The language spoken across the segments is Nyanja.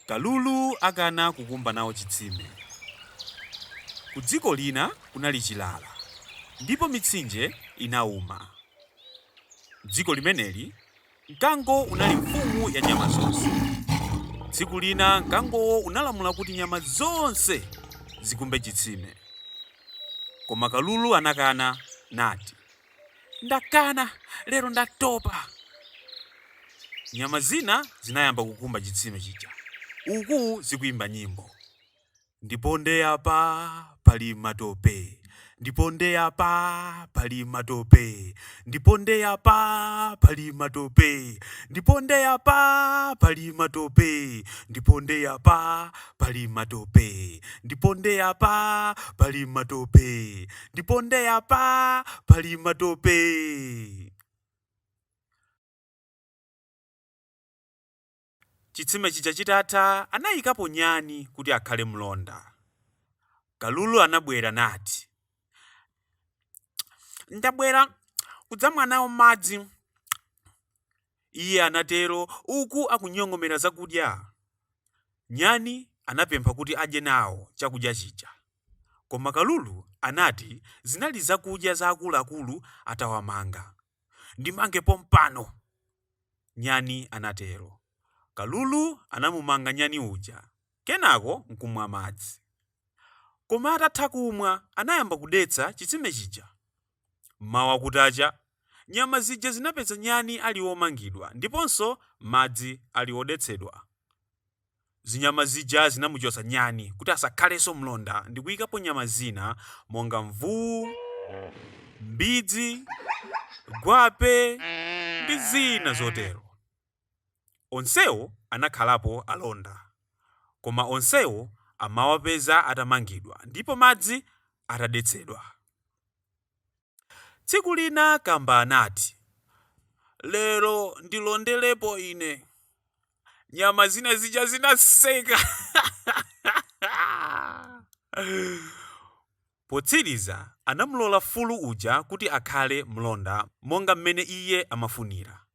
Kalulu akana kukumba nawo chitsime. Kudziko lina kunali chilala ndipo mitsinje inauma. M'dziko limeneli, mkango unali mfumu ya nyama zonse. Tsiku lina mkangowo unalamula kuti nyama zonse zikumbe chitsime. Koma kalulu anakana nati. Ndakana, lero ndatopa. Nyama zina zinayamba kukumba chitsime chija uku zikuimba nyimbo, Ndiponde apa pali matope, ndiponde apa pali matope, ndiponde apa pali matope, ndiponde apa pali matope, ndiponde apa pali matope, ndiponde apa pali matope. ndiponde apa pali matope. Chitsime chija chitatha anayikapo nyani kuti akhale mlonda. Kalulu anabwera nati, Ndabwera kudzamwa nawo madzi. iye anatero uku akunyong'omera zakudya. Nyani anapempha kuti adye nawo chakudya chija. Koma Kalulu anati zinali zakudya za akuluakulu atawamanga. Ndimange pompano! Nyani anatero. Kalulu anamumanga Nyani uja kenako n'kumwa madzi. Koma atatha kumwa anayamba kudetsa chitsime chija. M'mawa kutacha, nyama zija zinapeza nyani ali womangidwa ndiponso madzi ali odetsedwa. Zinyama zija zinamuchotsa nyani kuti asakhalenso mlonda ndi kuyikapo nyama zina monga mvuwu, mbidzi, gwape ndi zina zotero. Onsewo anakhalapo alonda, koma onsewo amawapeza atamangidwa ndipo madzi atadetsedwa. Tsiku lina Kamba anati, Lero ndilonderepo ine. Nyama zina zija zinaseka. Potsiriza anamulola fulu uja kuti akhale mlonda monga mmene iye amafunira.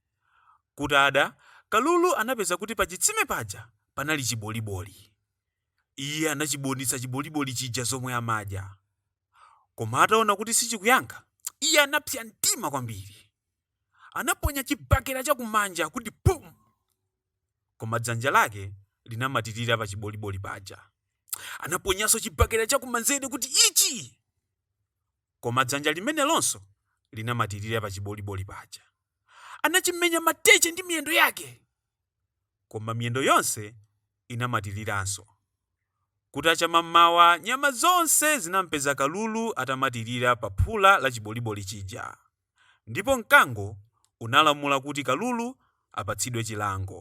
Kutada, Kalulu anapeza kuti pachitsime paja panali chiboliboli. Iye anachibonitsa chiboliboli chija zomwe amadya. Koma ataona kuti sichikuyankha, iye anapsa mtima kwambiri. Anaponya chibakera chakumanja kuti pum! koma dzanja lake linamatirira pa chiboliboli paja. Anaponyanso chibakera chakumanzere kuti ichi! Koma dzanja limenelonso linamatirira pa chiboliboli paja. Anachimenya mateche ndi miyendo yake! Koma miyendo yonse inamatiriranso. Kutacha mammawa nyama zonse zinampeza Kalulu atamatirira pa phula la chiboliboli chija. ndipo mkango unalamula kuti kalulu apatsidwe chilango.